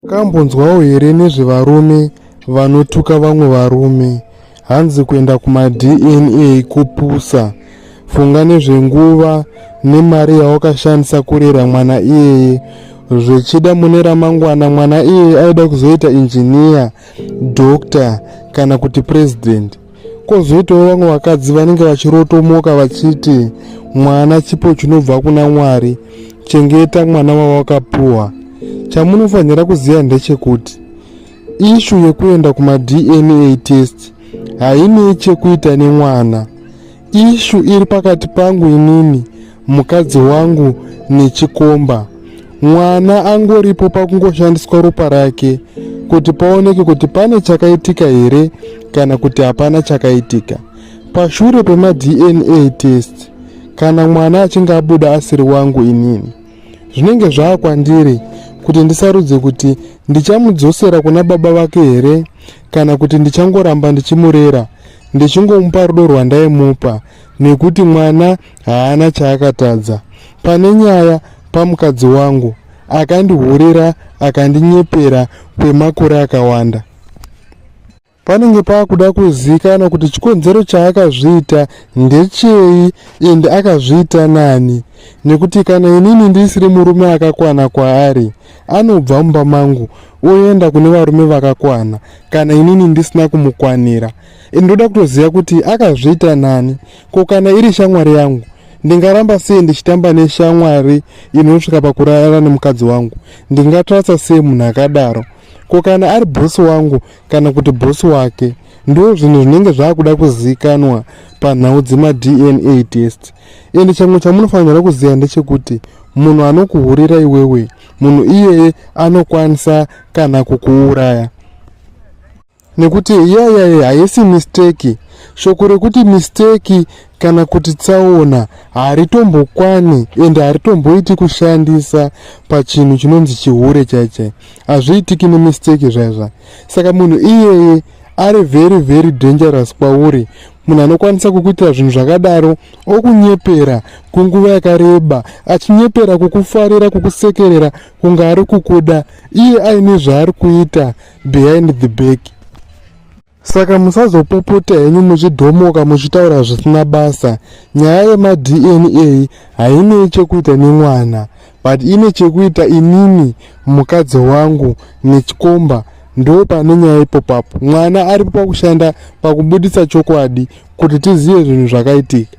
Makambonzwawo here nezvevarume vanotuka vamwe varume? Hanzi kuenda kumaDNA kupusa. Funga nezvenguva nemari yawakashandisa kurera mwana iyeye. Zvechida mune ramangwana mwana iyeye aida kuzoita injiniya, doctor kana kuti president. Kozoitawo vamwe vakadzi vanenge vachirotomoka vachiti mwana chipo chinobva kuna Mwari, chengeta mwana wawakapuwa. Chamunofanira kuziva ndechekuti ishu yekuenda kumaDNA test hainei chekuita nemwana. Ishu iri pakati pangu inini mukadzi wangu nechikomba mwana angoripo pakungoshandiswa ropa rake kuti paoneke kuti pane chakaitika here kana kuti hapana chakaitika pashure pemadna test kana mwana achinge abuda asiri wangu inini zvinenge zvava kwandiri kuti ndisarudze kuti ndichamudzosera kuna baba vake here kana kuti ndichangoramba ndichimurera ndichingomupa rudo rwandaimupa nekuti mwana haana chaakatadza pane nyaya pamukadzi wangu akandihurira akandinyepera kwemakore akawanda panenge paakuda kuzikana kuti chikonzero chaakazviita ndechei and akazviita nani nekuti kana inini ndisiri murume akakwana kwaari anobva mumba mangu oenda kune varume vakakwana kana inini ndisina kumukwanira and ndoda kutoziva kuti akazviita nani Ko kana iri shamwari yangu ndingaramba sei ndichitamba neshamwari inosvika pakurara nemukadzi wangu ndingatrasa sei munhu akadaro ko kana ari bhosi wangu kana kuti bhosi wake ndo zvinhu zvinenge zvaakuda kuzivikanwa panhau dzemadna test ende chamwe chamunofanira kuziva ndechekuti munhu anokuhurira iwewe munhu iyeye anokwanisa kana kukuuraya nekuti yayaya haisi misteki shoko rekuti misteki kana kuti tsaona haritombokwani ende haritomboiti kushandisa pachinhu chinonzi chihure chaichai hazviitiki nemisteki zvaizva saka munhu iyeye ari very very dangerous kwauri munhu anokwanisa kukuitira zvinhu zvakadaro okunyepera kunguva yakareba achinyepera kukufarira kukusekerera kunge ari kukuda iye aine zvaari kuita behind the back saka musazopopota henyu muchidhomoka muchitaura zvisina basa nyaya yemadna hainei chekuita nemwana but ine chekuita inini mukadzi wangu nechikomba ndo pane nyaya ipopapo mwana aripo pakushanda pakubudisa chokwadi kuti tizive zvinhu zvakaitika